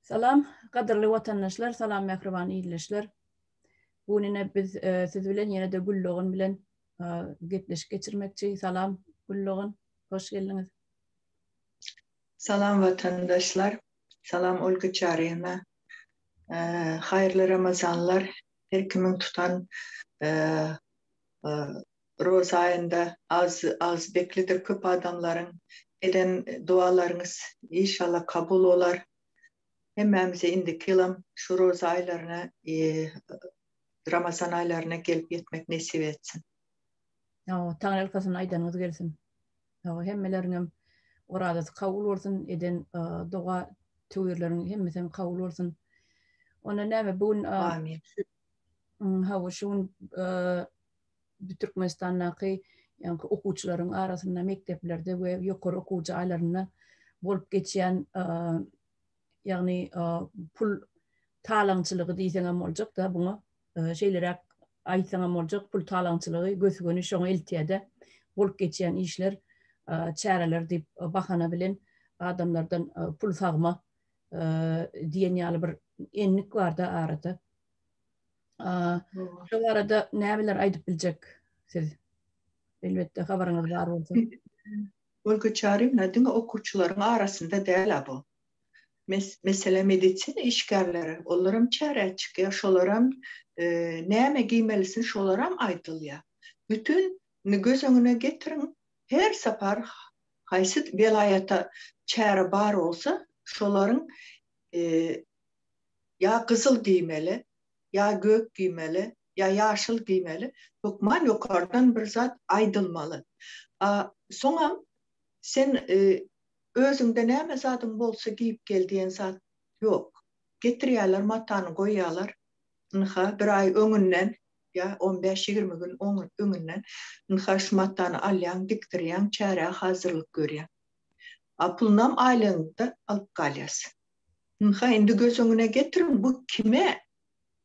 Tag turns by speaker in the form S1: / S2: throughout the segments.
S1: Salam, gadyrly watandaşlar, salam mähriban ildeşler. Bu gün ine biz e, siz bilen ýene-de Güldogan bilen e, gepleşik geçirmekçi. Salam Güldogan, hoş geldiňiz. Salam
S2: watandaşlar, salam Olga Çarina. E, haýyrly Ramazanlar her kimiň tutan Roza aýynda az az beklidir köp adamlaryň eden dualaryňyz işallah kabul bolar. Hemmämize indiki ýylam şu roza aýlaryna Ramazan aýlaryna gelip ýetmek nesip etsin. Sagbol
S1: taňryýalkasyn aýdanyňyz gelsin. Sagbol hemmeleriňem orazasy kabul bolsun eden doga tüwirleriň hemmesem kabul bolsun. Onda näme bu gün Amin. Hawa, şu gün Türkmenistandaky okuwçylaryň arasynda mekdeplerde we ýokary okuw jaýlarynda bolup geçýän ýagny pul talaňçylygy diýseňem boljak-da buňa şeýleräk aýtsaňam boljak, pul talaňçylygy gös-göni şoňa eltýär-de, bolup geçýän işler, çäreler diýip bahana bilen adamlardan pul sagma diýen ýaly bir endik barda arada. Şu arada nämeler aýdyp biljek siz? Elbetde habaryňyz bar bolsa. Ol
S2: göçärim nädimi okuwçylaryň arasynda däl bu. Mesele medisina işgärleri, olar hem çärä çykýar, şolar hem näme giýmelisin şolar hem aýdylýar. Bütün göz öňüne getiriň, her sapar Haýsy welaýata çäre bar bolsa, şolaryň ýa gyzyl giýmeli, ýa gök giýmeli, ýa ýaşyl giýmeli, hökman ýokardan bir zat aýdylmaly. A soňam sen özüňde näme zadyň bolsa giýip gel diýen zat ýok. Getirýärler matany goýýarlar, ynha, bir aý öňünden ýa on bäş-ýigrimi gün öňünden ynha şu matany alýaň, dikdirýäň, çärä hazyrlyk görýäň. A pulunam aýlygynda alyp galýas. Ynha indi göz öňüne getiriň, bu kime,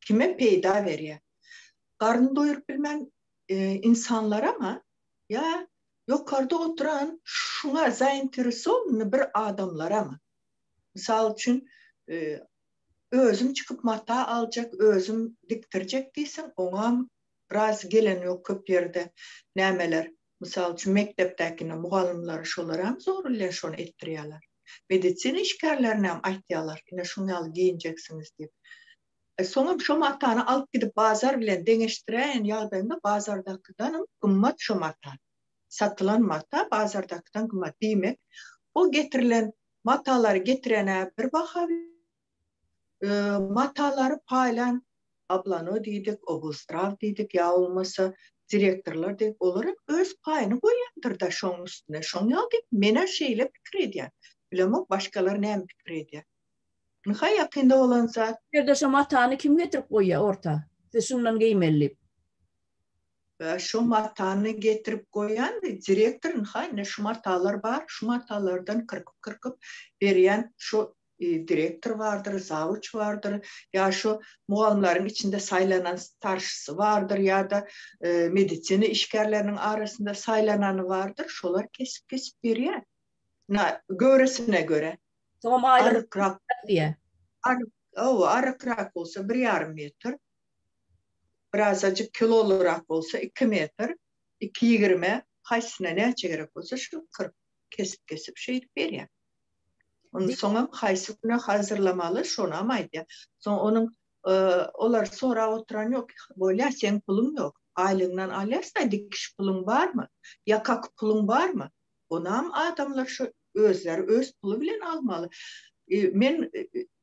S2: kime peýda berýär? Garyn doýuryp bilmän ynsanlarama ýa ýokarda oturan şuňa zainteresowanyny bir adamlarama? Mysal üçin, Özüm çykyp mata aljak, özüm dikdirjek diýseň, oňam biraz gelen ýok köp ýerde. Nämeler, mysal üçin, mekdepdäkine mugallymlary şolaram zor bilen şony etdirýärler. Medisina işgärlerinem aýtýarlar, ine şuň ýaly geýinjeksiňiz diýip. Soňam şo matany alyp gidip bazar bilen deňeşdiräýen ýagdaýyňda bazardakydanam gymmat şo mata. Satylan mata bazardakydan gymmat. Diýmek, o getirilen Matalary getirene bir baha matalary paýlan ablano diýdik, obustraw diýdik ýa bolmasa direktorlar diýdik, olar hem öz paýyny goýýandyr-da şoň üstüne. Şoň ýaly diýip, men-ä şeýle pikir edýän. Bilemok, başgalar näme pikir edýär. Ynha ýakynda bolan zat. Bu ýerde şo matany
S1: kim getirip goýýar orta? Siz şundan geýmeli diýip.
S2: Şo matany getirip goýýan, direktor ynha indi şu matalar bar, şu matalardan kyrkyp-kyrkyp berýän şo direktor bardyr, zawuç bardyr, ýa şo mugallymlaryň içinde saýlanan starşysy bardyr ýa-da medisina işgärleriniň arasynda saýlanany bardyr, şolar kesip-kesip berýär. Na, göwresine görä. Soňam
S1: aýlygyny
S2: diýýä.
S1: Aryk, hawa,
S2: arykrak bolsa bir ýarym metr, birazajyk kilolyrak bolsa iki metr, iki ýigrime haýsysyna näçe gerek bolsa şu kyrk kesip kesip şeýdip berýär. Indi soňam haýsy güne hazyrlamaly şonam aýdýar. Soň onuň olar sorap oturan ýok, bolýa seň puluň ýok, aýlygyňdan alýarsyňa dikiş puluň barmy, ýaka puluň barmy, onam adamlar şo özleri öz puly bilen almaly. Men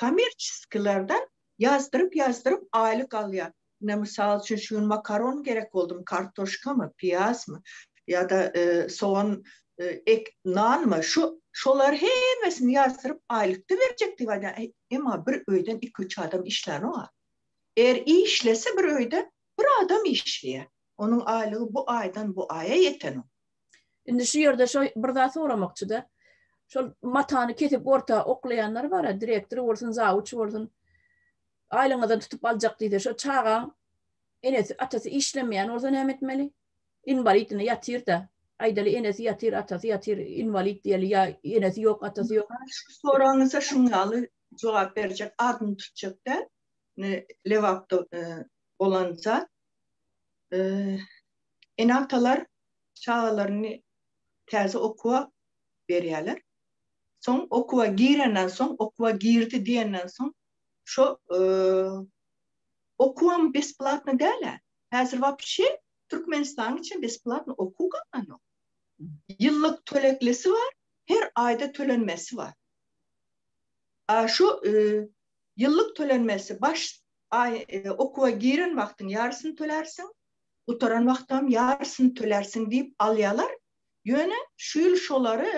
S2: Kommerçeskilerden ýazdyryp-ýazdyryp aýlyk alýar. Ine, mysal üçin, şu gün makaron gerek boldum, kartoşkamy, piýazmy ýa-da sogan, ek, nanmy, şu, şolary hemmesini ýazdyryp aýlyk-da berjek diýip aýdýar. Emma bir öýden iki-üç adam işlänok-a. Eger işlese bir öýde, bir adam işleýär. Onuň aýlygy bu aýdan bu aýa ýetenok. Indi şu
S1: ýerde şo bir zat soramakçyda. Şol matany kesip orta oklaýanlar bar, direktor bolsun, zawuç bolsun. Aýlyňyzdan tutup aljak diýse, şo çaga enesi, atasy işlemeýän bolsa näme etmeli? Inwalid indi ýatyr-da. Aýdaly enesi ýatyr, atasy ýatyr, inwalid diýeli ýa enesi ýok, atasy ýok. Şu soragyňyza
S2: şuň ýaly jogap berjek, adyny tutjak däl. Indi Lebapda bolan zat. Ene-atalar çagalaryny täze okuwa berýärler. Soň okuwa girenden soň, okuwa girdi diýenden soň şo e, okuwam besplatny däl-ä. Häzir wapşe Türkmenistanyň içinde besplatny okuw galmanok. Ýyllyk töleklisi bar, her aýda tölenmesi bar. A şu e, ýyllyk tölenmesi baş aý e, okuwa giren wagtyň ýarysyny tölärsiň, gutaran wagtam ýarysyny tölärsiň diýip alýalar, ýöne şu ýyl şolary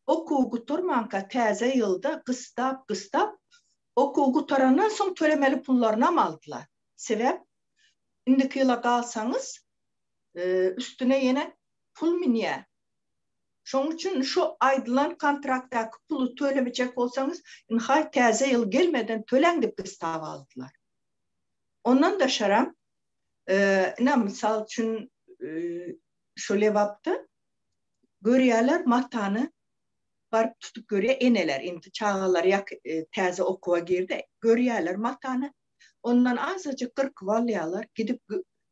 S2: okuw gutarmanka täze ýylda gysdap-gysdap, okuw gutarandan soň tölemeli pullarynam aldylar. Sebäp indiki ýyla galsaňyz üstüne ýene pul münýär. Şonuň üçin şu aýdylan kontraktdaky puly tölemejek bolsaňyz, ynha täze ýyl gelmeden töläň diýip gysdap aldylar. Ondan daşaram Ine, mysal üçin, şu Lebapda görýärler, matany baryp tutup görýär eneler. Indi çagalar ýa täze okuwa girdi, görýärler matany. Ondan azajyk gyrkyp alýarlar, gidip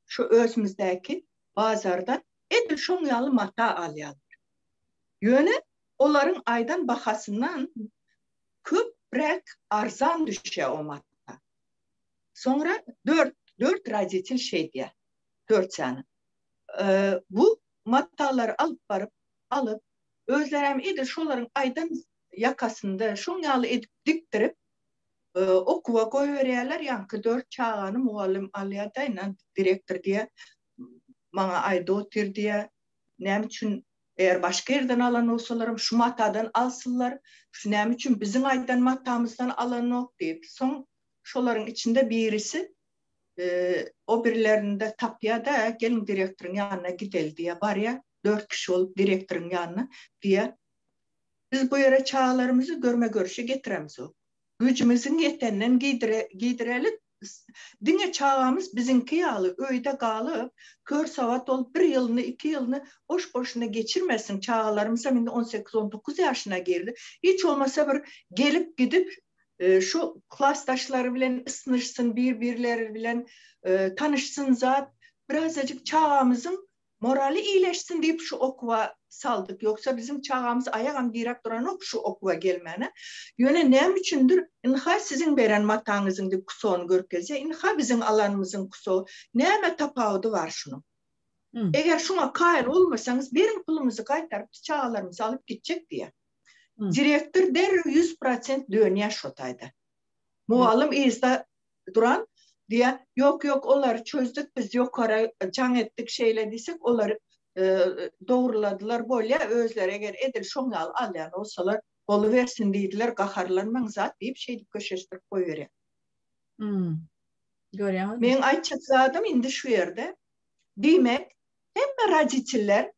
S2: şu özümizdäki bazarda edil şoň ýaly mata alýarlar. Ýöne olaryň aýdan bahasyndan köpräk arzan düşýär o mata. Soňra dört, dört roditel şeýdýär. Dört sany. Bu matalary alyp baryp, alyp, özleri hem edil şolaryň aýdan ýakasynda şoň ýaly edip dikdirip, okuwa goýberýärler, ýaňky dört çagany mugallym alýar-da, ine, direktor diýýär, maňa aýda otur diýýär, näme üçin, eger başga ýerden alan bolsalaram, şu matadan alsynlar, şu näme üçin biziň aýdan matamyzdan alanok diýip, soň Şolaryň içinde birisi o birilerinde tapýa-da, geliň direktoryň ýanyna gideli diýýä. Barýa, dört kişi bolup direktoryň ýanyna, diýýä. Biz bu ýere çagalarymyzy görme-görüşe getiremzok. Güýjümiziň ýeteninden giýdirelik, diňe çagamyz biziňki ýaly öýde galyp, kör sowat bolup bir ýylyny, iki ýylyny boş-boşuna geçirmesin, çagalarymyzam indi on sekiz-on dokuz ýaşyna girdi. Hiç bolmasa bir gelip-gidip Şu klasdaşlary bilen ysnyşsyn, bir-birleri bilen tanyşsyn zat, birazajyk çagamyzyň moraly iýleşsin diýip şu okuwa saldyk. Ýogsa biziň çagamyz aýagam diräp duranok şu okuwa gelmäne. Ýöne näme üçindir, ynha siziň beren mataňyzyň diýip kusony görkezýär, ynha biziň alanymyzyň kuso, näme tapawudy bar şunuň? Eger şuňa kaýyl bolmasaňyz, beriň pulumyzy gaýtaryp, biz çagalarymyzy alyp gitjek diýýär. Direktor derrew ýüz prosent dönýär şo taýda. Mugallym yzda duran, diýýär, Ýok, ýok, olary çözdük biz, ýokara jaň etdik, şeýle diýsek, olar dogruladylar, bolýa, özleri eger edil şoň ýaly alýan bolsalar, bolubersin diýdiler, gaharlanmaň zat, diýip, şeýdip köşeşdirip goýberýär.
S1: Görýäňizmi? Meň aýtjak zadym
S2: indi şu ýerde, diýmek, hemme roditeller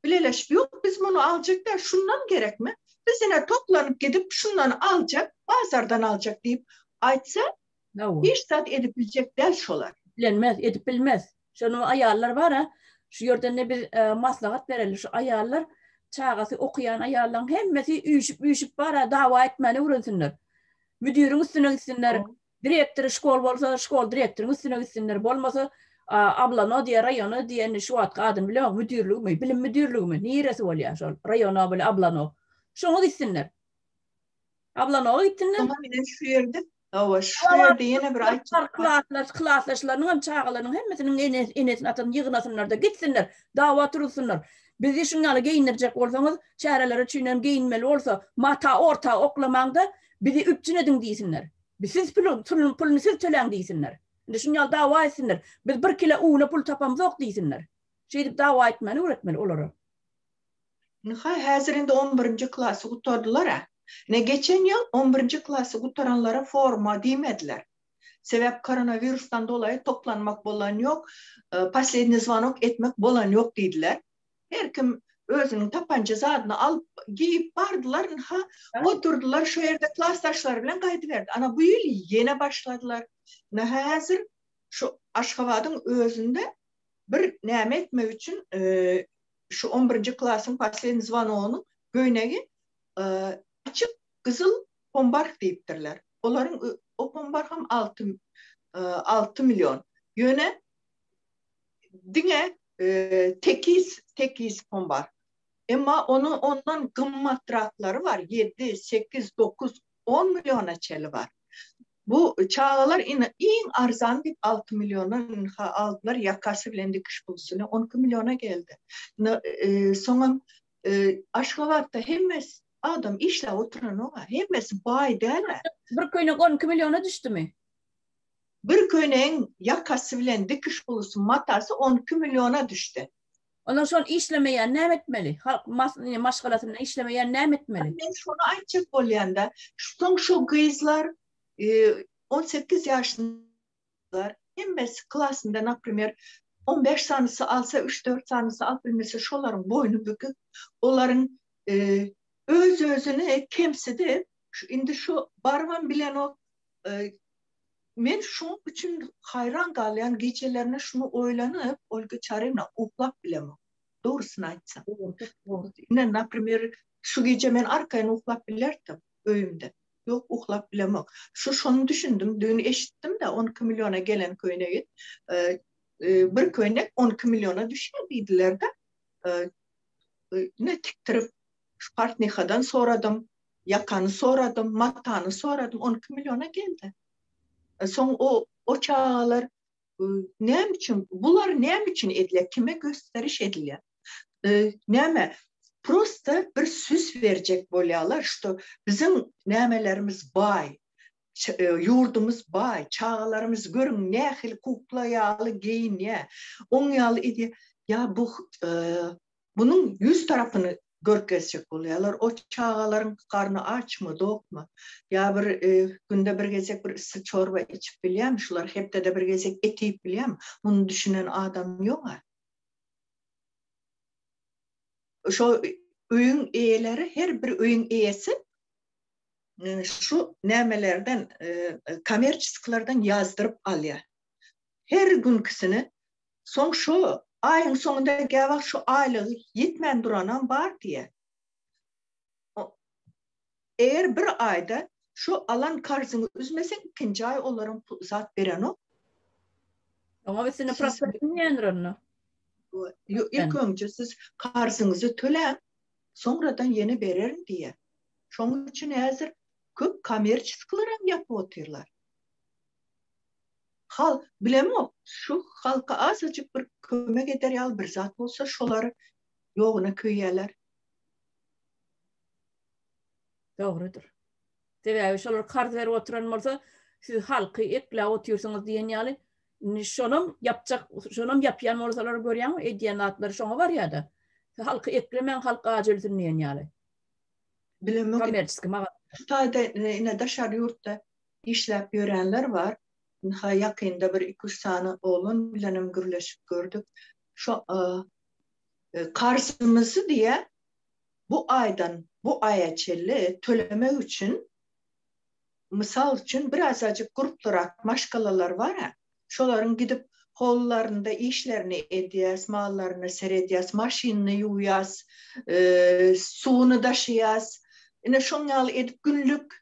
S2: Bileleşip ýok biz muny aljak däl şundan gerekmi biz ine toplanyp gidip şundan aljak bazardan aljak diýip aýtsa hiç zat edip biljek däl şolar. Bilenmez edip
S1: bilmez şonu aýallar bara şu ýerden de biz maslahat bereli şu aýallar çagasy okaýan aýallaň hemmesi üýşüp üýşüp bara dawa etmäni öwrensinler müdiriň üstüne gitsinler Direktory şkol bolsa şkol direktoryň üstüne gitsinler bolmasa ablano diýe raýona diýeni şu wagtky adyny bilýäňok müdirligimi bilim müdirligimi niresi bolýa şol raýona bile ablano şoňa gitsinler ablanoa gitsinler Şoňa bilen şu ýerde
S2: Hawa, şu ýerde ýene bir aýtjak klasdaş, klasdaşlarynyň
S1: hem çagalarynyň hemmesiniň enes, enesini atasyny ýygnasynlar-da gitsinler, dawa turuzsunlar. Bizi şuň ýaly geýindirjek bolsaňyz, çäreler üçin hem geýinmeli bolsa, mata orta oklamaň-da, Bizi üpjün ediň diýsinler. Siz puluny siz töläň diýsinler. Indi şuny ýaly dawa etsinler. Biz bir kile una pul tapamzok diýsinler. Şeýdip dawa etmäni öwretmeli olara. Ynha,
S2: häzir indi on birinji klasy gutardylar-a. Ine, geçen ýyl on birinji klasy gutaranlara forma diýmediler. Sebäp koronawirusdan dolaýy toplanmak bolan ýok, posledniý zwanok etmek bolan ýok diýdiler. Her kim özüniň tapanja zadyny alyp, geýip bardylar. Ynha, oturdylar şo ýerde klasdaşlary bilen gaýdyberdi. Ana, bu ýyl ýene başladylar. Ynha, häzir şu Aşgabadyň özünde bir näme etmek üçin şu on birinji klasyň poslednýi zwonogynyň göýnegi açyk gyzyl pombarh diýipdirler. Olaryň o pombarham alty alty million. Ýöne diňe Tekis, tekis pom bar. Emma onuň ondan gymmatraklary bar, ýedi, sekiz, dokuz, on milliona çeli bar. Bu çagalar ine iň arzan diýip alty milliona ynha aldylar, ýakasy bilen dikiş pulsyny on iki milliona geldi. Ynha, soňam Aşgabatda hemmes adam işläp oturanok-a, hemmesi baý däl-ä. Bir köýnek on iki
S1: milliona düşdümi? Bir
S2: köýnegiň ýakasy bilen dikiş ulusy, matasy on iki milliona düşdi. Onda şol
S1: işlemeýän näme etmeli? Halk maşgalasynda işlemeýän näme etmeli? Men şony aýtjak
S2: bolýan-da, soň şu gyzlar on sekiz ýaşyndalar, hemmesi klasynda, naprimer, on bäş sanysy alsa, üç-dört sanysy alyp bilmese, şolaryň boýny bükük, olaryň öz-özüni kemsidip, indi şu barybam bilenok, Men şoň üçin haýran galýan, gijelerine şuny oýlanyp, Olga Çaryna, uklap bilemok, dogrusyny aýtsam. Ine, naprimer, şu gije men arkaýyn uklap bilerdim öýümde. Ýok, uklap bilemok. Şu şony düşündim, düýn eşitdim-de, on iki milliona gelen köýnegi, bir köýnek on iki milliona düşýär diýdiler-de. Ine, tikdirip, şu portnihadan soradym. Ýakany soradym, matany soradym, on iki milliona geldi. E, soň o o çagalar e, näme üçin, bular näme üçin edilýär, kime gösteriş edilýär? E, näme, prosta bir süs berjek bolýarlar, şu biziň nämelerimiz baý, E, ýurdumyz baý, çagalarymyz görüň nähili kukla ýaly geýinýär, oň ýaly edýär. Ýa bu e, munuň ýüz tarapyny görkezjek bolýarlar, o çagalaryň garny açmy, dokmy, ýa bir günde bir gezek bir yssy çorba içip bilýärmi, şular hepdede bir gezek et iýip bilýärmi, muny düşünen adam ýog-a. Şo öýüň eýeleri, her bir öýüň eýesi şu nämelerden, kommerçesklerden ýazdyryp alýar. Her günkisini Soň şo aýyň soňunda gäwagt şo aýlygy ýetmän duranam bar diýýär. Eger bir aýda şo alan karzyňy üzmeseň, ikinji aý olaram pul zat berenok.
S1: Oňa üstüne prosent inýändir onda.
S2: Ilk önje siz karzyňyzy töläň, soňradan ýene bererin diýýär. Şonuň üçin häzir köp kommerçiskileram ýapyp otyrlar. Halk, bilemok, şu halka azajyk bir kömek eder ýaly bir zat bolsa, şolar ýoguna köýýärler.
S1: Dogrudyr. Sebäbi şolar karz berip oturan bolsa, siz halky ekläp otyrsyňyz diýen ýaly, indi şonam ýapjak, şonam ýapýan bolsalar görýäňmi, edýän zatlary şoňa barýar-da. Halky eklemäň, halk aç ölsün diýen ýaly.
S2: Bilemok. Kommersiýa maga.
S1: Hytaýda,
S2: ine, daşary ýurtda Işläp ýörenler bar. Ynha, ýakynda bir iki-üç sany oglan bilenem gürleşip gördük. Şo, karzymyzy diýä, bu aýdan bu aýa çenli tölemek üçin, mysal üçin, bir azajyk grupdyrak maşgalalar bar-a, şolaryň gidip holularynda işlerini edýäs, mallaryna seredýäs, maşynyny ýuwýas, suwuny daşaýas. Ine, şoň ýaly edip günlük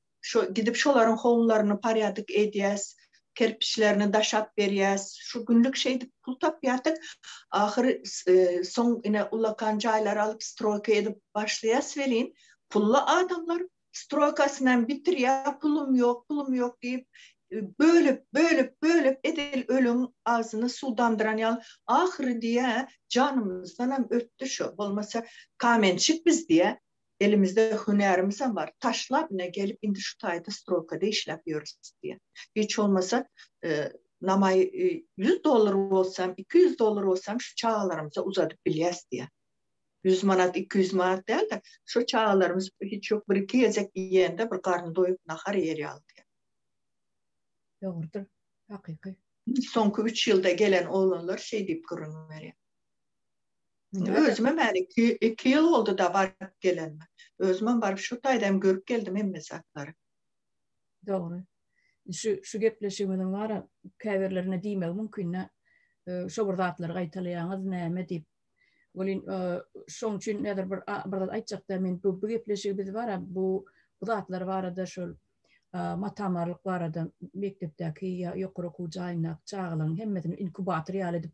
S2: Şo gidip şolaryň howlularyny parýadyk edýäs, kerpiçlerini daşap berýäs. Şu günlük şeýdip pul tapýarsyk. Ahyry soň ine ullakan jaýlary alyp stroýka edip başlaýas welin, pully adamlar stroýkasynam bitirýär, pulum ýok, pulum ýok diýip, bölüp, bölüp, bölüp edil ölüň agzyny suwdandyran ýaly. Ahyry diýýär, janymyzdanam ötdi şu, bolmasa kamençik biz diýýär. Elimizde hünärimizem bar, taşlap ine gelip indi şu taýda strokada işläp ýörüs diýýär. Hiç bolmasa namaý ýüz dollar bolsam, iki ýüz dollar bolsam şu çagalarymyza uzadyp bilýäs diýýär. Ýüz manat, iki ýüz manat däl-de, şu çagalarymyz hiç ýok bir-iki gezek iýende bir garny doýup nahar iýer ýaly diýýär. Dogrudyr,
S1: hakyky. Soňky üç
S2: ýylda gelen oglanlar şeý diýip gürrüň berýär. Özümem häli iki, iki ýyl boldy-da baryp gelenime. Özümem baryp şu taýda hem görüp geldim hemme zatlary.
S1: Dogry. Şu şu gepleşigimiziň bara käbirlerine diýmegi mümkin-dä. Şo bir zatlary gaýtalaýaňyz näme diýip. Welin şoň üçin näder bir bir zat aýtjakda men bu gepleşigi biz bara bu bu zatlar barada şol matamarlyk barada mekdepdäki ýa ýokary okuw jaýyndaky çagalaryň hemmesini inkubator ýaly edip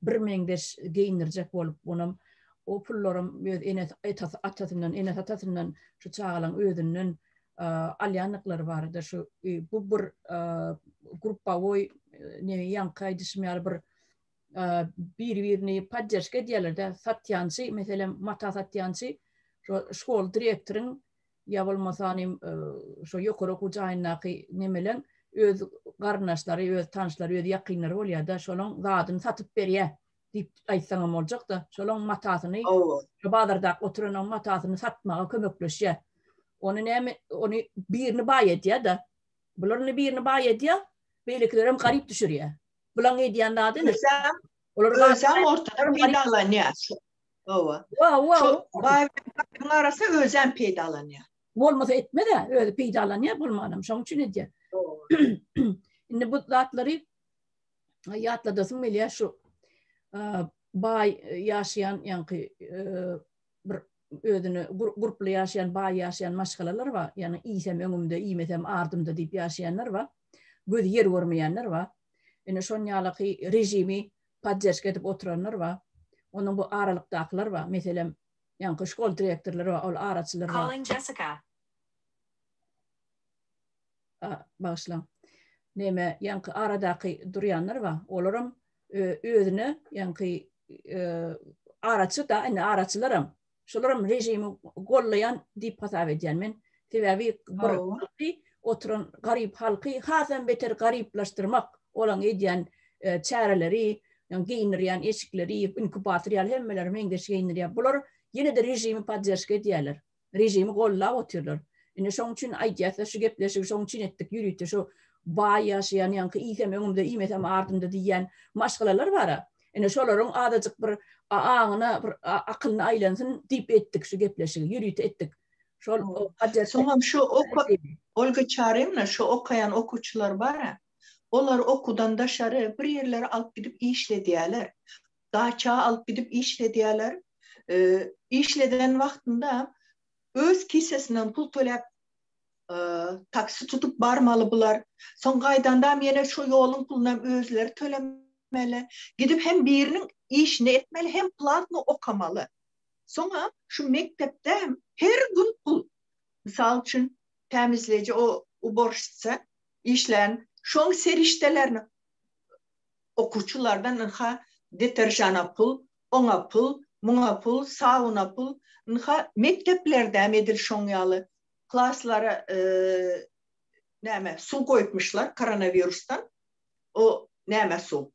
S1: birmeňzeş geýindirjek bolup, onam o pullaram öz ene atasyndan, ene atasyndan şu çagalaň özünden alýandyklary barada şu bu bir gruppawoý neý ýaňky aýdyşym ýaly bir biri-birini podderžka edýärler-de, satýançy, meselem, mata satýançy şo şkola direktoryň ýa bolmasa ony şo ýokary okuw jaýyndaky nemelen öz garyndaşlary, öz tanşlary, öz ýakynlary bolýar-da, şolaň zadyny satyp berýär diýip aýtsaňam boljak-da, şolaň matasyny, şo bazardaky oturanyň matasyny satmaga kömekleşýär. Ony näme, ony birini baý edýär-de. Bular indi birini baý edýär, beýlekilerem garyp düşürýär. Bulaň edýän zady indi, olar
S2: ortada peýdalanýar. Hawa. Hawa. Şol baý-berekatlaryň arasy özem peýdalanýar. Bolmasa etmez-ä,
S1: özi peýdalanýar bolmanam, şoň üçin edýär. Indi bu zatlary ýatladasym gelýär şu baý ýaşaýan ýaňky bir özüne gurply ýaşaýan baý ýaşaýan maşgalalar bar. Ýani iýsem öňümde, iýmesem ardymda diýip ýaşaýanlar bar. Gözi ýer görmeýänler bar. Ine şon ýalaky režimi podderşka edip oturanlar bar. Onuň bu aralykdakylar bar. Meselem, ýaňky şkol direktorlary bar, ol araçylar bar. Bagyşlaň. Näme, ýaňky aradaky durýanlar bar. Olaram özüne ýaňky araçy-da, indi araçylaram. Şolaram režimi gollaýan diýip hasap edýän men. Sebäbi oturan garyp halky hasam beter garyplaşdyrmak, olaň edýän e, çäreleri, ýa geýinirýän eşikleri, inkubator ýaly hemmeleri meňzeş geýinirýär. Bular ýene-de režimi podderşka edýärler. Režimi gollap otyrlar. Indi şoň üçin aýdýarsa şu gepleşigi şoň üçin etdik ýürüte şu baý ýaşaýan ýaňky iýsem öňümde iýmesem ardymda diýýän maşgalalar bara. Ine şolaryň azajyk bir aňyna, bir akylyna aýlansyn diýip etdik şu gepleşigi, ýörite etdik. Şol Hajar. Soňam şu
S2: Olga Çarymna şu okaýan okuwçylar bar-a, olar okuwdan daşary bir ýerlere alyp gidip işledýärler. Daça alyp gidip işledýärler. Işleden wagtynda öz kisesinden pul töläp taksi tutup barmaly bular. Soň gaýdandam ýene şu ýoluň pulunam özleri tölemeli. Gidip hem biriniň işini etmeli, hem platno okamaly. Soňa şu mekdepde her gün pul. Mysal üçin, tämizleýji o uborşitsa işlän, şoň serişdelerini okuwçylardan ynha deterjana pul, oňa pul, muňa pul, sabuna pul. Ynha mekdeplerdäm edil şoň ýaly. klaslara näme suw goýupmyşlar koronawirusdan o näme suw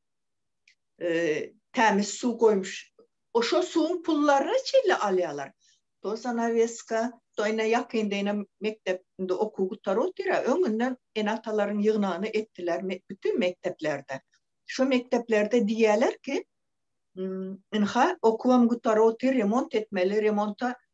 S2: tämiz suw goýmuş o şo suwuň pullaryny çille alýarlar to zanaweska to ine ýakynda ine mekdep indi okuw gutar otyr ýa öňünden ene atalaryň ýygnagyny etdiler bütin mekdeplerde şo mekdeplerde diýýärler ki ynha okuwam gutar otyr remont etmeli remonta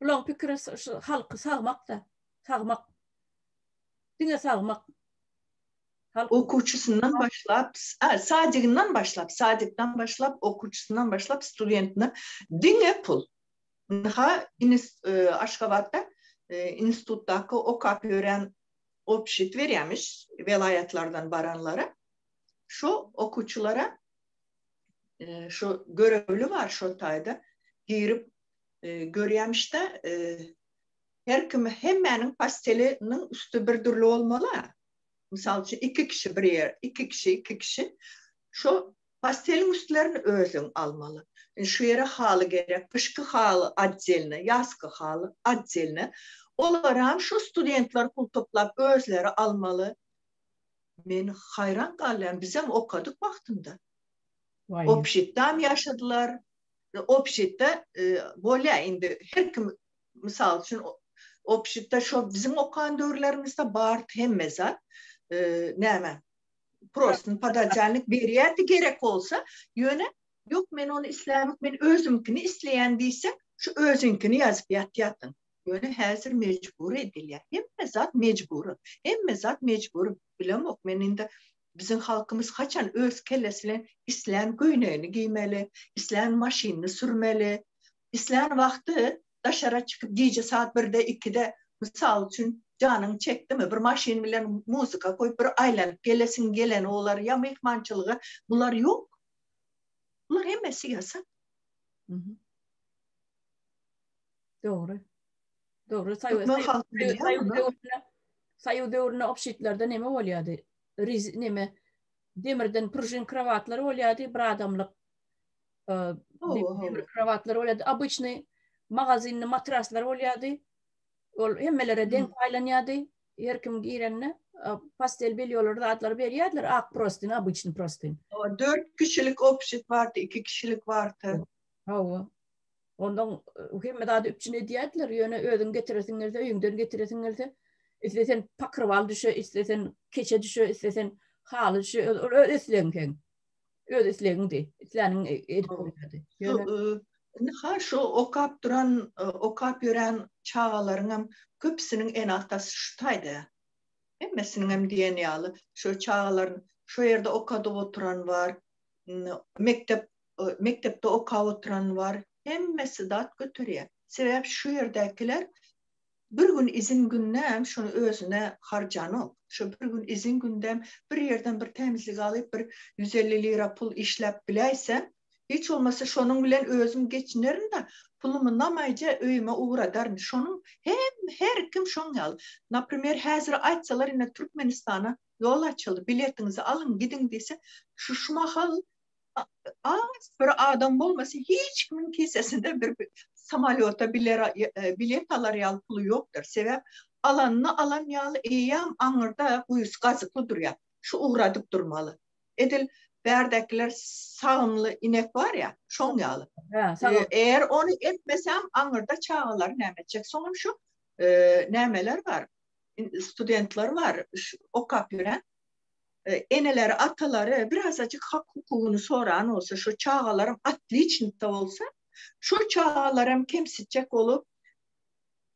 S1: Bulaň pikiri şu halky sagmakda, sagmak. Diňe sagmak. Okuwçysyndan
S2: başlap, sadiginden başlap, sadikden başlap, okuwçysyndan başlap, studentine diňe pul. Ynha, Aşgabatda institutdaky okap ýören obşit berýämiş welaýatlardan baranlara. Şu okuwçylara şu görevli bar şu taýda girip görýämişde her kim hemmäniň pasteliniň üsti bir dürli bolmaly. Mysal üçin iki kişi bir ýer, iki kişi, iki kişi şu pasteliň üstlerini özüň almaly. Şu ýere haly gerek, gyşky haly atdelne, ýazky haly atdelne. Olar hem şu studentler pul toplap özleri almaly. Men haýran galýan bizem okadyk wagtynda. Obşitdam ýaşadylar. Obşitde bolýa indi her kim mysal üçin obşitde şol biziň okan döwürlerimizde bar hemme zat. Näme? Prosny podajalnik berýärdi gerek bolsa, ýöne ýok men ony islämok men özümkini isleýän diýse, şu özüňkini ýazyp ýatýardyň. Ýöne häzir mejbury edilýär. Hemme zat mejbury. Hemme zat mejbury. Bilemok men indi biziň halkymyz haçan öz kellesi bilen islän köýnegini geýmeli, islän maşynyny sürmeli, islän wagty daşara çykyp gije saat birde, ikide, mysal üçin, janyň çekdimi, bir maşyn bilen muzika goýup bir aýlanyp gelesiň geleni bolar ýa myhmançylyga. Bular ýok. Bular hemmesi ýasak.
S1: Dogry. Dogry. Saýu döwründe obşitlerde neme bolýardy? Riz neme? Demirden prujin krowatlar bolýardy, bir adamlyk e, demir krowatlar bolýardy. Obычny magazinli matraslar bolýardy. Ol hemmelere deň paýlanýardy. Her kim girende e, pastel belýolar zatlar berýärdiler, ak prostin, obычny prostin. Dört kişilik
S2: obşit bardy, iki kişilik bardy. Hawa.
S1: Ondan hemme zady üpjün edýärdiler, ýöne özüň getiresiň gelse, öýüňden getiresiň gelse, islesen pakrwal düşe, islesen keçe düşe, islesen haly düşe, ol öz islegiň. Öz islegiňdi. Isläniň edip goýardy. Indi ha şu
S2: okap duran, okap ýören çagalaryňam köpüsiniň ene-atasy şu taýda. Hemmesiniňem diýen ýaly, şu çagalaryň şu ýerde okadyp oturan bar. Mekdep mekdepde okap oturan bar, hemmesi dat göterýär. Sebäbi şu ýerdäkiler bir gün izin gündem şuny özüne harjanok. Şu bir gün izin gündem bir ýerden bir tämizlik alyp, bir ýüz elli lira pul işläp biläýsem, hiç bolmasa şonuň bilen özüm geçinerin-de, pulumy namaýja öýüme ugradaryn. Şonuň hem her kim şoň ýaly. Naprimer, häzir aýtsalar ine Türkmenistana ýol açyldy, biletiňizi alyň, gidiň diýse, şu şu mahal az bir adam bolmasa hiç kimiň kesesinde bir samolýota bilet alar ýaly puly ýokdur. Sebäp alanyny alan ýaly eýýäm aňyrda guýusy gazykly durýar. Şu ugradyp durmaly. Edil bärdekiler sagymly inek bar ýa, şoň ýaly. Eger ony etmesem aňyrda çagalary näme etjek? Soňam şu nämeler bar? Studentler bar, okap ýören. eneleri, atalary birazajyk hak-hukugyny soran bolsa, şo çagalaram otliçnikda bolsa, şo çagalaram kemsitjek bolup,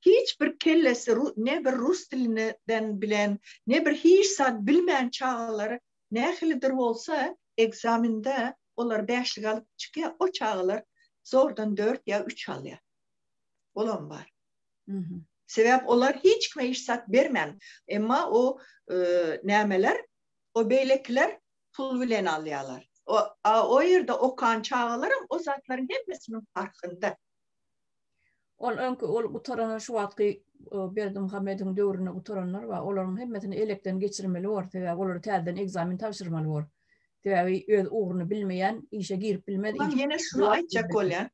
S2: hiç bir kellesi ne bir rus dilinden bilen, ne bir hiç zat bilmän çagalar nähilidir bolsa, ekzamende olar bäşlik alyp çykýar, o çagalar zordan dört ýa üç alýar. Olam bar. Sebäp olar hiç kime iş sat bermän, emma o nämeler, o beýlekiler pul bilen alýalar. O a o ýerde okan çagalaram o zatlaryň hemmesiniň parhynda. Ol öňki
S1: ol gutaran şu wagtky Berdimuhamediň döwründe gutaranlar bar, olaryň hemmesini elekden geçirmeli bor, sebäbi olara täzeden ekzamen tabşyrmaly bor. Sebäbi öz ugruny bilmeýän işe girip bilmez. Ýene şuny aýtjak
S2: bolýan.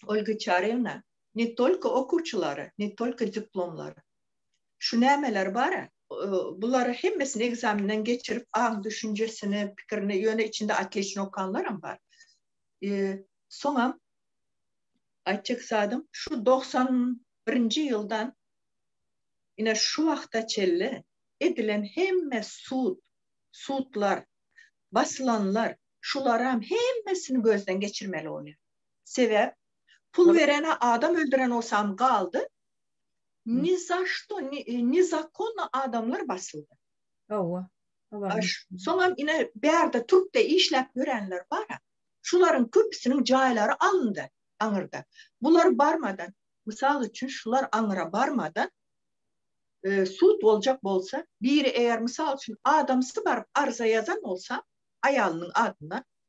S2: Olga Çarewna, Ne tolko okuwçylar, ne tolko diplomlar. Şu nämeler bar-a? Bulary hemmesini ekzamenden geçirip, aň düşünjesini, pikirini, ýöne içinde otliçno okanlaram bar. Soňam aýtjak zadym, şu dogsan birinji ýyldan ine şu wagta çenli edilen hemme sud, sudlar, basylanlar, şularam hemmesini gözden geçirmeli bolýar. Sebäp pul berene adam öldüren olsam galdy ni za što ni zakonno adamlar basyldy. Hawa. Soňam ine bärde türkde işläp ýörenler bar. Şularyň köpüsiniň jaýlary alyndy aňyrda. Bular barmadan mysal üçin şular aňyra barmadan sud boljak bolsa biri eger mysal üçin adamsy baryp arza ýazan bolsa aýalynyň adyna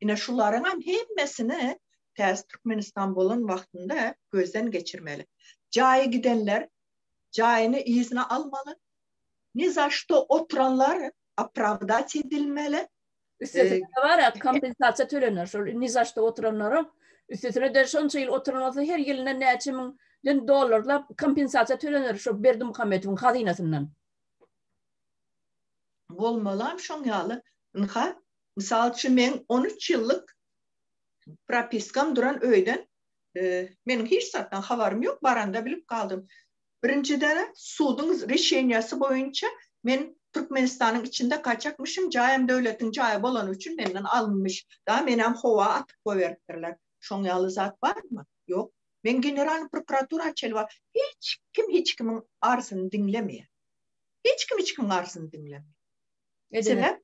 S2: Ine şularyňam hemmesini täze Türkmenistan bolan wagtynda gözden geçirmeli. Jaýy gidenler jaýyny yzyna almaly. Ni za şto oturanlar opravdat edilmeli. Üstesine de
S1: bar ýa kompensasiýa tölenir şol ni za şto oturanlara. Üstesine de şonça ýyl oturan bolsa her ýylyndan näçe müň den dollarlap kompensasiýa tölenir şo Berdimuhamedowyň hazynasyndan.
S2: Bolmalam şoň ýaly ynha Mysal üçin meň on üç ýyllyk propiskam duran öýden meniň hiç zatdan habarym ýok baranda bilip galdym. Birinjiden suduň rişeniýasy boýunça men Türkmenistanyň içinde gaçakmyşym jaýym döwletiň jaýy bolany üçin menden alynmyş. Daa menem howa atyp goýberipdirler. Şoň ýaly zat barmy? Ýok. Men generalnyý prokuratura çelwa hiç kim hiç kimiň arzyny diňlemeýär. Hiç kim hiç kimiň arzyny diňlemeýär. Sebäp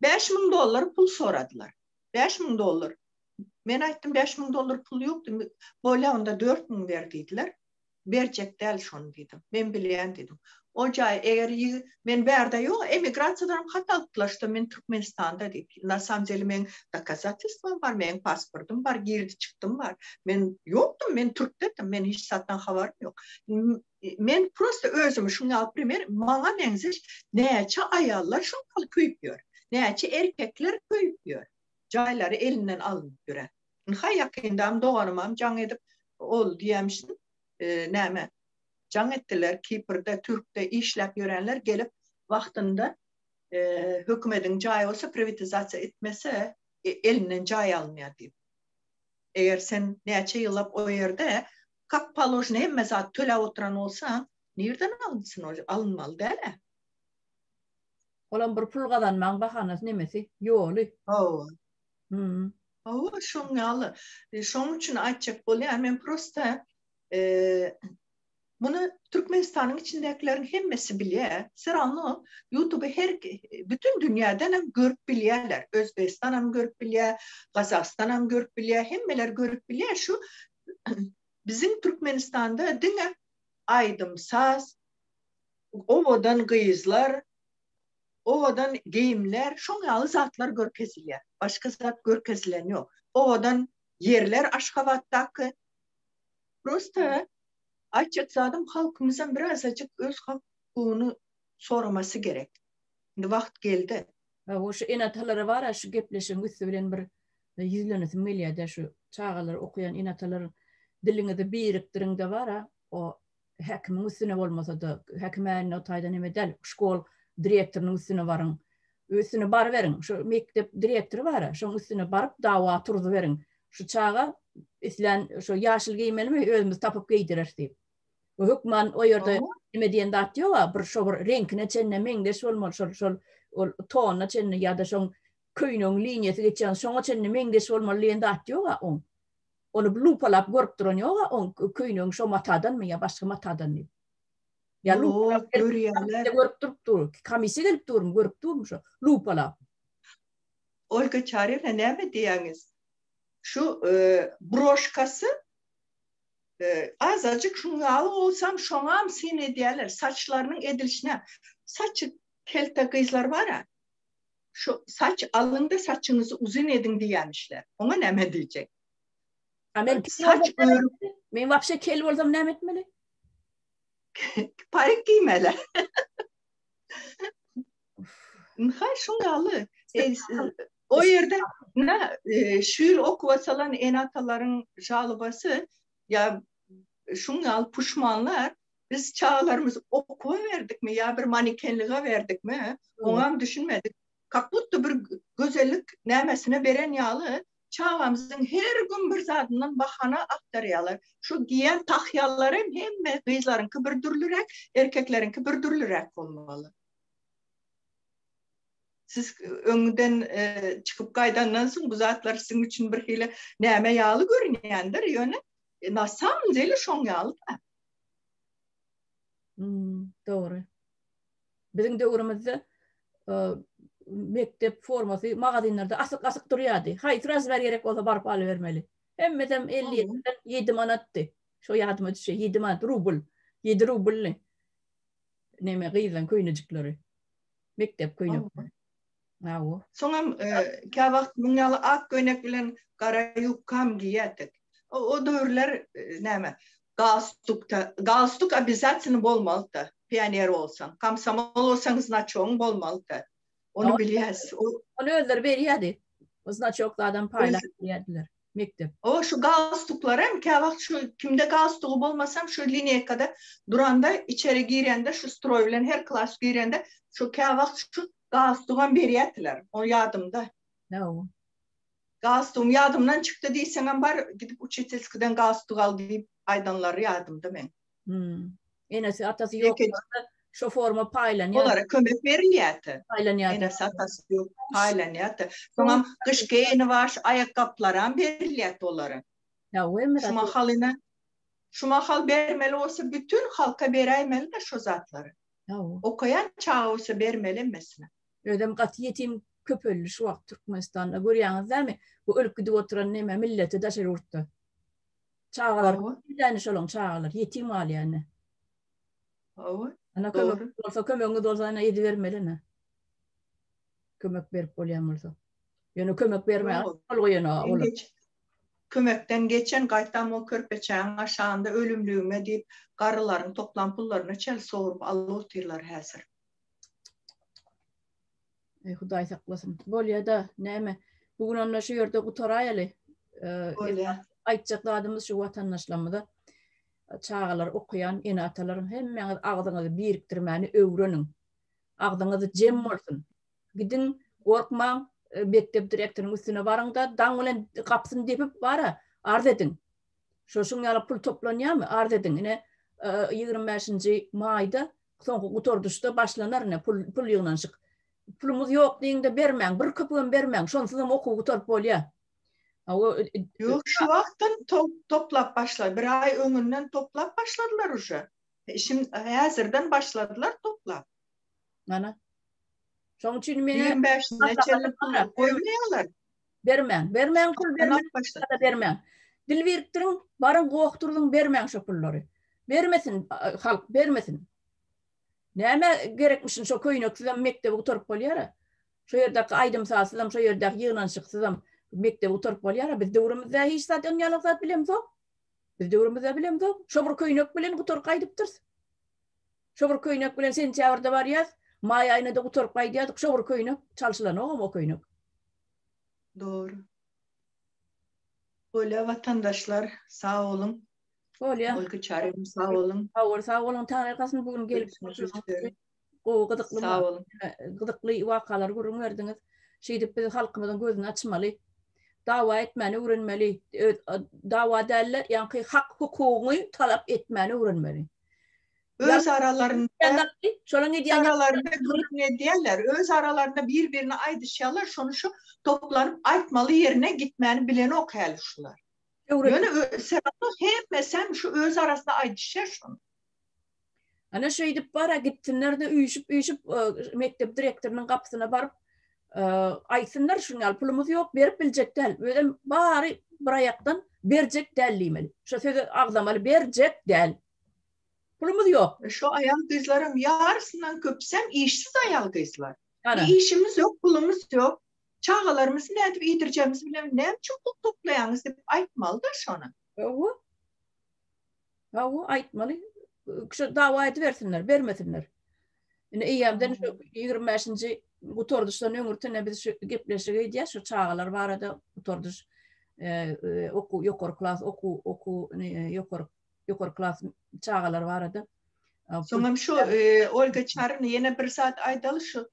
S2: 5000 dollar pul soradylar. 5000 dollar. Men aýtdym 5000 dollar pul ýokdy. Bolýa onda 4000 ber diýdiler. Berjek däl şony diýdim. Men bilýän diýdim. O jaý eger men bärde ýok, emigrasiýadan hat alypdylar, şo men Türkmenistanda diýip. Na samym deli men dokazatelstwom bar, men pasportym bar, girdi çykdym bar. Men ýokdym, men türkdedim, men hiç zatdan habarym ýok. Men prosta özümi şuň ýaly primer, maňa meňzeş näçe aýallar şuň ýaly köýüp ýör. Näçe erkekler köýüp ýör. Jaýlary elinden alnyp ýöre. Ynha ýakyndam doganymam jaň edip ol diýemsin näme jaň etdiler kiprde türkde işläp ýörenler gelip wagtynda hökümediň jaýy bolsa priwitizasiýa etmese elinden jaý alynýar diýip. Eger sen näçe ýyllap o ýerde Kak paložno hemme zat töläp oturan bolsaň nirden alynsyn ol alynmaly dälä.
S1: Olam bir pul gazanmaň bahanasy nemesi ýoly. Hawa. Hum.
S2: Hawa şoň ýaly. Şoň üçin aýtjak bolýan men prosta Muny Türkmenistanyň içindäkileriň hemmesi bilýär. Serawno YouTube her bütün dünýäden hem görüp bilýärler. Özbegistan hem görüp bilýär, Gazagystan hem görüp bilýär, hemmeler görüp bilýär. Şu Biziň Türkmenistanda diňe aýdym-saz, owadan gyzlar, owadan geýimler, şoň ýaly zatlar görkezilýär. Başga zat görkezilen ýok. Owadan ýerler Aşgabatdaky. Prosta aýtjak zadym halkymyzam birazajyk öz hakyny soramasy gerek. Indi wagt geldi. Hawa, şu
S1: ene-atalara bar-a şu gepleşigiň üsti bilen bir ýüzlenesim gelýär-dä, şu çagalar okaýan ene-atalar diliňizi birikdiriň-de bar-a, o häkimiň üstüne bolmasa-da, häkim änne o taýdan eme däl, şkol direktorynyň üstüne baryň. Üstüne baryberiň, şu mekdep direktory bar-a, şoň üstüne baryp dawa turzyberiň. Şu çaga islän şu ýaşyl geýmelimi, özümiz tapyp geýdireris diýip. Hökman o ýerde nime diýen zat ýog-a, bir şo bir reňkine çenli meňzeş bolmaly, şol şol ol tonyna çenli ýa-da şoň köýnegiň liniýasy geçýän şoňa çenli meňzeş bolmaly diýen zat ýog-a oň. Ony bir lupalap görüp duran ýog-a oň köýnegiň şo matadanmy ýa başga matadan diýip. Ýa lupalap görýärler. Görüp durup dur. Komissiýa gelip durmy, görüp durmy şo lupalap.
S2: Olga Çarýewna näme diýýäňiz? Şu broşkasy Azajyk şuň ýaly bolsam, şoňam syn edýärler, saçlarynyň edilişine. Saçy kelte gyzlar bar-a, şu saç alyň-da, saçyňyzy uzyn ediň diýýämişler. Oňa näme diýjek? A men
S1: saç örüp, men wapşe kel bolsam näme etmeli?
S2: Parik giýmeli. Nahar şuň ýaly. O ýerde ne şu ýyl okuwa salan ene-atalaryň žalobasy ýa şuň ýaly puşmanlar biz çagalarymyzy okuwa berdikmi ýa bir manekenlige berdikmi oňam düşünmedik. Kak butda bir gözellik nämesine beren ýaly çagamyzyň her gün bir zadyndan bahana agtarýarlar. Şu geýen tahýalarym hemme gyzlaryňky bir dürlüräk, erkekleriňki bir dürlüräk bolmaly. siz öňden e, çykyp gaýdandan soň bu zatlar siziň üçin bir hili näme ýaly görünýändir ýöne e, na samym dele şoň ýaly da hmm,
S1: dogry biziň döwrümizde e, mekdep formasy magazynlarda asyk asyk durýardy haýsy razmer gerek bolsa baryp alyp bermeli hemmedem 57 manatdy şo ýadyma düşýär 7 manat rubl 7 rublny neme gyýlan köýnejikleri Mekdep köýnekleri. Hawa. Soňam e,
S2: kä wagt muň ýaly ak köýnek bilen gara ýubkam giýýärdik. O, o döwürler e, näme? Galstuk, galstuk obýazatýny bolmalydy. Pioner bolsaň, komsomol bolsaň znaçogyň bolmalydy. Ony bilýäs. Ony özleri
S1: berýärdi. Znaçok zadam paýlap berýärdiler. Mekdep. O şu galstuklarem
S2: käwagt şu kimde galstugy bolmasam şu lineýkada duranda içeri girende şu stroý bilen her klas girende şu käwagt şu galstugam berýätiler. O ýadymda. Hawa.
S1: Galstugym
S2: ýadymdan çykdy diýseňem bar gidip uçetelskiden galstuk al diýip aýdanlary ýadymda meň. Hmm. Enesi
S1: atasy yok. Şu forma paylanıyor. Onlara kömek verilýärdi.
S2: Paylanýardy. Enesi
S1: atasy yok.
S2: Paylanýardy. Soňam gyş geýini baş aýakgaplaram berilýärdi olara. Ya ömür. Şu
S1: mahalyna
S2: şu mahal bermeli olsa bütün halka beräýmeli de şu zatlary. Ya. Okayan çaga olsa bermeli emmesine. Özüm gaty
S1: yetim köp öldi şu wagt Türkmenistanda görýäňiz dämi? Bu ölüp gidip oturan neme milleti daşary ýurtda. Çagalar Hawa. ýöne şolaň çagalary ýetim galýar ine. Hawa. Ana kömek Dogry. bolsa, kömegiňiz bolsa ana edibermeli ine. Kömek berip bolýan bolsa. Ýöne kömek bermän Ýok. gol goýan o Sen olar. geç. Kömekden
S2: geçen gaýtam o körpeçäň aşagynda ölümligime diýip garrylaryň toplan pullaryny çel sogrup alyp otyrlar häzir.
S1: Eý Hudaý saklasyn. Bolýada näme? Bu gün onda şu ýerde gutaraýaly. Bolýar. Aýtjak zadymyz şu watandaşlarymyza çagalar okuyan ene atalarym hemmäňiz agzyňyzy birikdirmäni öwreniň. Agzyňyzy jem bolsun. Gidiň, gorkmaň, e, mekdep direktorynyň üstüne baryňda daň bilen gapysyny depip bara arz ediň. Şoşuň ýaly pul toplanýarmy? Arz ediň. Ine 25-nji e, maýda Soňky gutardyşda başlanar ine pul pul ýygnanyşyk. Pulumyz ýok diýiňde bermäň, bir köpügem bermäň, şonsuzam okuw gutaryp bolýar. Hawa,
S2: Ýok, şu wagtdan toplap başla, bir aý öňünden toplap başladylar uje. Şim häzirden başladylar toplap. Mana.
S1: Şoň üçin men Ýigrimi bäşine çenli
S2: pul goýmaýarlar. Bermäň,
S1: bermäň pul bermäň, ýa-da bermäň. Dil birikdiriň, baryň gokdurylyň bermäň şo pullary. Bermesin halk, bermesin. Nämä gerekmişin şo köýneksizem mekdebi gutaryp bolýara. Şo ýerdäki aýdym-sazsyzam, şo ýerdäki ýygnanyşyksyzam mekdebi gutaryp bolýara. Biz döwrümizde hiç zat ynýalak zat bilemzok. Biz döwrümizde bilemzok. Şo bir köýnek bilen gutaryp gaýdypdyrys. Şo bir köýnek bilen sentýabrda barýas, maý aýynada gutaryp gaýdýardyk, şo bir köýnek, çalşylanogam o köýnek.
S2: Dogry. Bolýa watandaşlar, sag boluň. Bolýa. Olga Çaryýewa sag boluň. Sag bol, sag boluň. Taňry
S1: gazsyn bu gün gelip gowy gyzykly Sag boluň.
S2: Gyzykly
S1: wakalary gürrüň berdiňiz. Şeýdip biz halkymyzyň gözüni açmaly. Dawa etmäni öwrenmeli. Dawa däl-de, ýaňky hak hukugyňy talap etmäni öwrenmeli. Öz
S2: aralarynda gürrüň edýärler, öz aralarynda bir-birine aýdyşýarlar, şony şu toplanyp aýtmaly ýerine gitmäni bilenok häli şular. Ýöne sebabi hemmesem şu öz arasynda aýdyşýar şony.
S1: Ana şeýdip bar-a gitsinler-de üýşüp-üýşüp mekdep direktorynyň gapysyna baryp, Aýtsynlar şuň ýaly pulumyz ýok, berip biljek däl. Özem bary bir aýakdan berjek däl diýmeli. Şo sözi agzamaly, berjek däl. Pulumyz ýok. Şo aýal-gyzlaram
S2: ýarysyndan köpüsem işsiz aýal-gyzlar. Işimiz ýok, pulumyz ýok. Çagalarymyzy nädip iýdirjegimizi bilemok. Näme üçin pul toplaýaňyz diýip aýtmaly-da şony. Hawa.
S1: Hawa, aýtmaly. Şu dawa edibersinler, bermesinler. Indi eýýämden şu 25-nji gutardyşdan öňürtene biz şu gepleşige edýäs, şu çagalar barada gutardyş okuw, ýokary klas okuw, okuw, ýokary, ýokary klas çagalar barada.
S2: Soňam şu Olga Çarny
S1: ýene
S2: bir zat aýdaly şu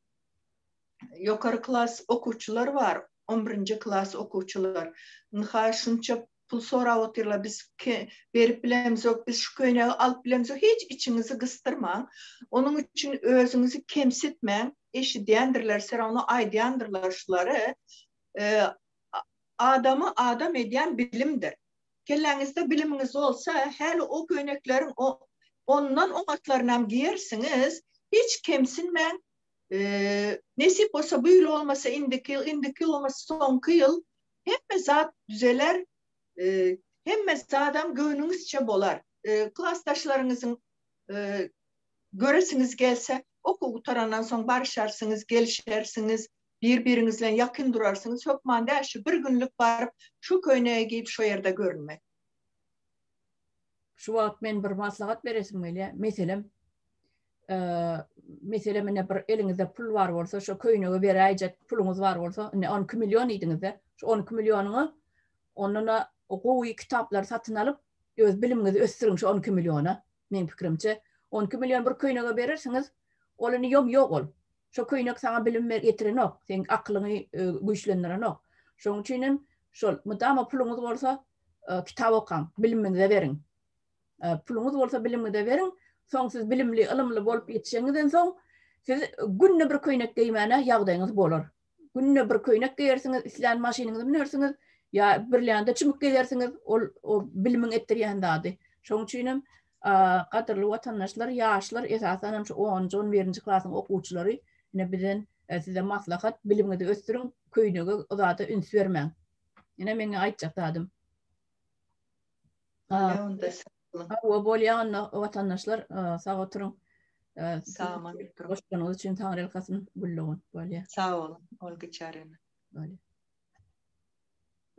S2: ýokary klas okuwçylar bar, 11-nji klas okuwçylar. Ynha şunça pul sorap otyrlar, biz berip bilemizok, biz şu köýnegi alyp bilemizok, hiç içiňizi gysdyrmaň. Onuň üçin özüňizi kemsitmäň. Eşidýändirler, serawno aýdýandyrlar şulary. Adamy adam edýän bilimdir. Kelläňizde bilimiňiz bolsa, häli o köýnekleriň ondan oňatlaryny hem geýersiňiz. Hiç kemsinmäň. Nesip bolsa, bu ýyl bolmasa, indiki ýyl, indiki ýyl bolmasa, soňky ýyl Hemme zat düzeler, e, hemme zadam göwnüňizçe bolar. E, klasdaşlaryňyzyň e, göresiňiz gelse, okuw gutarandan soň barşarsyňyz, gelişersiňiz, bir-biriňiz bilen ýakyn durarsyňyz. Hökman däl, şu bir günlük baryp, şu köýnegi geýip, şu ýerde görünmek.
S1: şu wagt men bir maslahat beresim gelýä, meselem, meselem ine bir eliňizde pul bar bolsa, şu köýnege beräýjek puluňyz bar bolsa, ine 12 million diýdiňizde, şu 12 millionyňy ondan gowy kitaplar satyn alyp, öz bilimiňizi ösdüriň şu 12 milliona. Meň pikirimçe, 12 million bir köýnege berersiňiz, ol indi ýom ýok ol. Şo köýnek saňa bilim getirenok, seň akylyňy güýçlendirenok. Şoň üçin hem şol mydama puluňyz bolsa, kitap okaň, bilimiňize beriň. Puluňyz bolsa bilimiňize beriň, soň siz bilimli, ylymly bolup ýetişeňizden soň siz günde bir köýnek geýmäne ýagdaýyňyz bolar. Günde bir köýnek geýersiňiz, islän maşynyňyzy münersiňiz, ýa birlände çümüp gezersiňiz, ol o bilimiň etdirýän zady. Şoň üçin hem Gadyrly watandaşlar ýaşlar esasan hem şu onunjy on birinji klasyň okuwçylary ine bizden size maslahat bilimiňizi ösdüriň köýnege uzada üns bermäň ine meňňe aýtjak zadym. Hawa bolýa onda watandaşlar sag oturyň. Goşdanyňyz
S2: üçin
S1: taňrylkasyn Güllugin bolýa.
S2: Sag
S1: boluň
S2: Olga
S1: Çaryna.